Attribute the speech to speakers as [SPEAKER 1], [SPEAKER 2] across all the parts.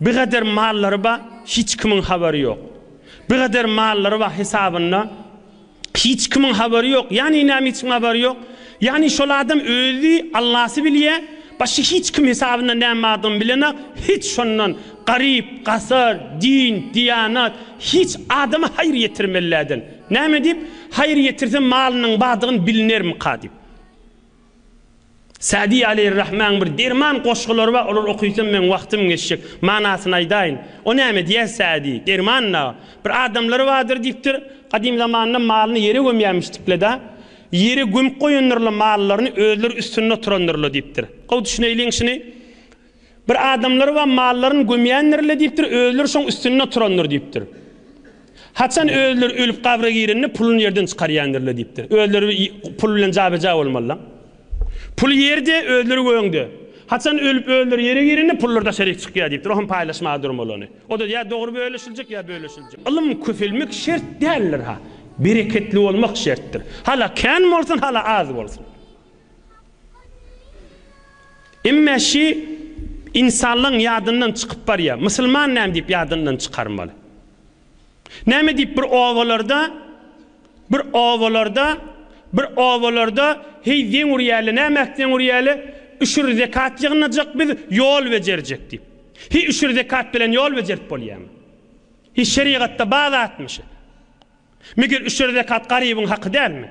[SPEAKER 1] Bigader mallary ba hiç kimiň habary ýok. Bigader mallary ba hesabynda hiç kimiň habary ýok. Ýani nämeçün habary ýok? Ýani şol adam özi Allasy bilýä, başga hiç kim hesabynda näme bardygyny bilenak, hiç şondan garyp, gasar, din, diýanat, hiç adama haýyr ýetirmelläden. Näme diýip, haýyr ýetirse malynyň bardygyny bilnermika diýip. Sa'dy aleýhir-rahmäň bir derman goşgulary bar, olary okyysam meň wagtym geçjek. Manasyny aýdaýyn. O näme diýýär Sa'dy? Derman dagy. Bir adamlary bardyr diýipdir, gadym zamanda malyny ýere gömýärmişdikle-de, ýere gömüp goýandyrlar mallaryny, özleri üstünde oturandyrlar diýipdir. Gowy düşüneýliň şuny. Bir adamlary we mallaryny gömýändir-le diýipdir, özleri şoň üstünde oturandyr diýipdir. Haçan özleri ölüp gabra girende puluny ýerden çykarýandyr-le diýipdir. Özleri pul bilen jabeja bolmaly-la. Pul ýerde, özleri göňde. Haçan ölüp özleri ýere girende pullar daşaryk çykýar diýipdir. O hem paýlaşmaga durmaly ony. O-da ýa dogry bölüşiljek, ýa bölüşiljek. Ylym köpelmek şert däldir-ha. Bereketli bolmak şertdir. Hala kän bolsun, hala az bolsun. Emme şi insanlygyň ýadyndan çykyp barýar. Musulman näme diýip ýadyndan çykarmaly? Näme diýip bir obalarda bir obalarda bir obalarda heý zeň urýaly nämäk zeň urýaly üşür zekat ýygnajak biz ýol bejerjek diýip. Hi üşür zekat bilen ýol bejerip bolýamy? Hi şerigatda bazatmy şi? Meger üşür zekat garybyň haky dälmi?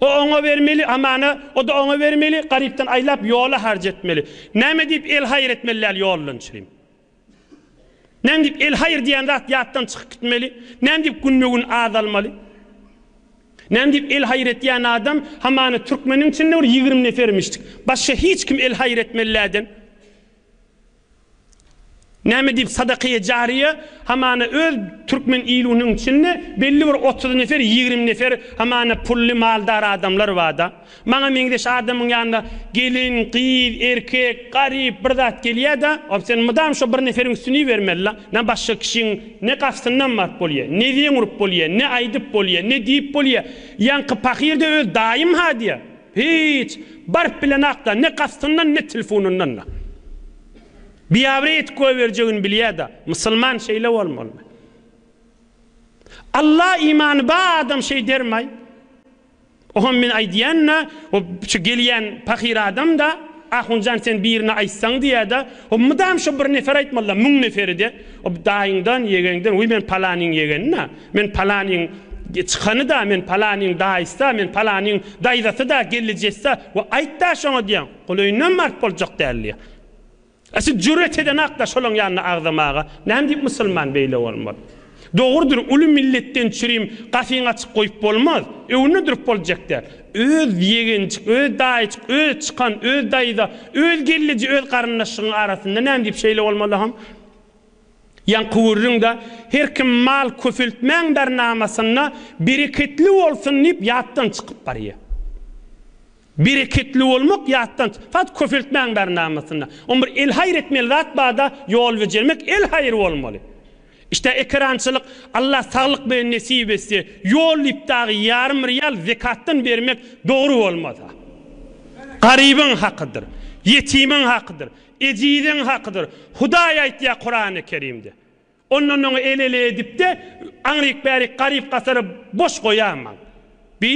[SPEAKER 1] O oňa bermeli, amana, o-da oňa bermeli, garypdan aýlap, ýola harç etmeli. Näme diýip el-haýyr etmeli däl ýoldan çyryň. Näme diýip el-haýyr diýen zat ýatdan çykyp gitmeli, näme diýip günbe-gün azalmaly. Näme diýip el-haýyr etýän adam, hamana, türkmeniň içinde bir ýigrimi nefermişdik. Başga hiç kim el-haýyr etmeli dälden. Näme diýip sadakaýe jaryýe hamana öz türkmen ilunyň içinde belli bir otuz nefer ýigrimi nefer hamana pully maldar adamlar barda. Maňa meňzeş adamyň ýanyna gelin, gyz, erkek, garyp bir zat gelýäda ol sen mydam şo bir neferiň üstüni ibermelila. Nä başga kişiň ne gastyndan baryp bolýa, ne zeň urup bolýa, ne aýdyp bolýa, ne diýip bolýa. Ýaňky pahyr-da öz daýym-ha diýä. Hiç, baryp bilenakda, ne kastyndan, ne tilfunyndan-da. Biabre etip goýberjegini bilýä-da, musulman şeýle bolmalymy? Alla imany ba adam şeý dermaý. Oham men aýdýan-da, o şu gelýän pahyr adam-da, Ahunjan sen birine aýtsaň diýä-de, o mydam şo bir nefer aýtmaly-da, müň neferi-de, o daýyňdan, ýegeňden, wi men palanyň ýegeni-da, Men palanyň çykany-da, men palanyň daýysy-da, men palanyň daýzasy-da, gelnejessi-da we aýt-da şoňa diýýän. Golaýyndanam baryp boljak däl diýýän. A siz jüret edenak-da şolaň ýanyna agzamaga. Näme diýip musulman beýle bolmaz? Dogrudyr, uly milletden çürim gapyňy açyk goýup bolmaz. Öňünde durup boljak däl. Öz ýegenjik, öz daýyjyk, öz çykan, öz daýza, öz gelneje öz garyndaşyňyň arasynda näme diýip şeýle bolmaly hom? Ýaňky gürrüňde her kim mal köpeltmäň bernamasynda bereketli bolsun diýip ýatdan çykyp barýar. Bereketli bolmak ýatdan, fakt köpeltmäň bernamasynda. Oň bir elhaýyr etmeli zat barda ýol bejermek elhaýyr bolmaly. İşte ekerançylyk Allah saglyk bilen nesip etse ýol diýip dagy ýarym real zekatdan bermek dogry bolmasa. Garybyň hakydyr. Ýetimiň hakydyr. Ejiziň hakydyr. Hudaý aýtýar Kurany Kerimde. Ondan oňa el-ele edip-de, aňryk-bärik garyp-gasary boş goýamaň. Bi,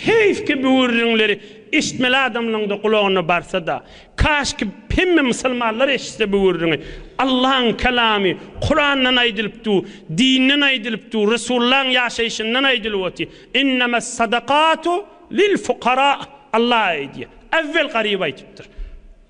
[SPEAKER 1] heýfki bu gürrüňleri eşitmeli adamlaryň-da gulagyna barsa-da. Kaşki, hemme musulmanlar eşitse bu gürrüňi. Allaň Kelamy, Kurandan aýdylyp dur, dinden aýdylyp dur, Resullaň ýaşaýşyndan aýdylyp otyr. Innemes-sadakatu lil-fukara. Allah aýdýar. Äwwel garyba aýdypdyr.